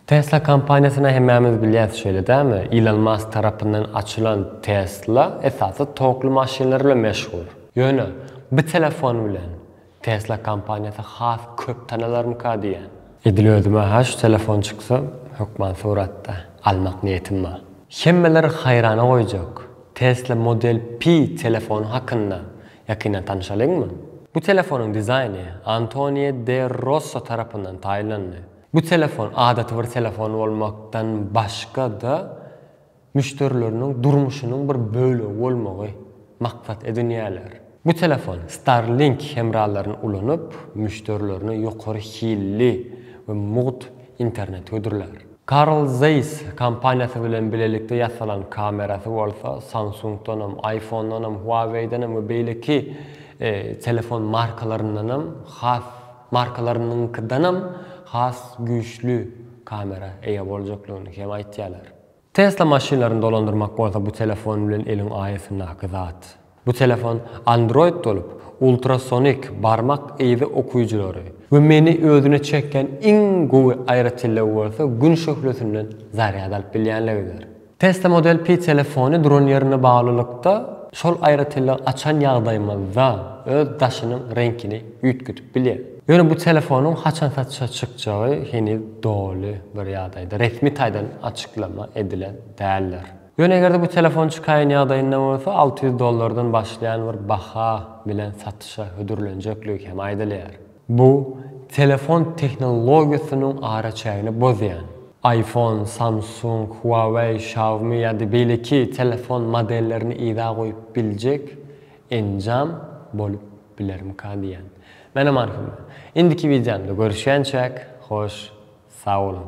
Tesla kompaniýasyny hemmämiz bilýäs şeýle dälmi? Ilon Mask tarapyndan açylan Tesla esasy tokly maşynlar bilen meşhur. Ýöne bu telefon bilen Tesla kompaniýasy has köp tanalarmyka diýýän. Edil özüme ha şu telefon çyksa hökman suratda almak niýetim bar. Hemmeleri haýrana goýjak Tesla Model Pi telefony hakynda ýakyndan tanyşalyňmy? Bu telefonyň dizaýny Antonio de Rosso tarapyndan taýynlandy. Bu telefon adaty bir telefon bolmakdan başga-da, müşderileriniň durmuşynyň bir bölegi bolmagy maksat edinýärler. Bu telefon Starlink hemralaryny ulanyp, müşderilerine ýokary hilli we mugt internet hödürlär. Carl Zeiss kompaniýasy bilen bilelikde ýasalan kamerasy bolsa Samsung-danam, iPhone-danam, Huawei-denem we beýleki telefon markalaryndanam has Markalarynyňkydanam has güýçli kamera eýe boljaklygyny hem aýtýarlar. Tesla maşynlaryny dolandyrmak bolsa bu telefon bilen eliň aýasyndaky zat. Bu telefon Android bolup, ultrasonik barmak yzy okyjylary we meni özüne çekýän iň gowy aýratynlygy bolsa gün şöhlesinden zarýad alyp bilýänligidir. Tesla Model Pi telefony dron ýerine baglylykda şol aýratynlygy açan ýagdaýymyzda öz daşynyň reňkini üýtgedip bilýär. Ýöne bu telefonyň haçan satşa çykjagy heniz doly bir ýagdaýda resmi taýdan açyklama edilen däldir. Ýöne eger-de bu telefon çykaýan ýagdaýynda bolsa alty ýüz dollardan başlaýan bir baha bilen satyşa hödürlenjekligi hem aýdylýar. Bu telefon tehnologiýasynyň araçägini bozýan. Iphone, Samsung, Huawei, Xiaomi ýa-da beýleki telefon modellerini yza goýup biljek enjam bolup bilermika diýýän. Menem arhymda. Indiki wideomda görüşýänçäk, hoş sag boluň!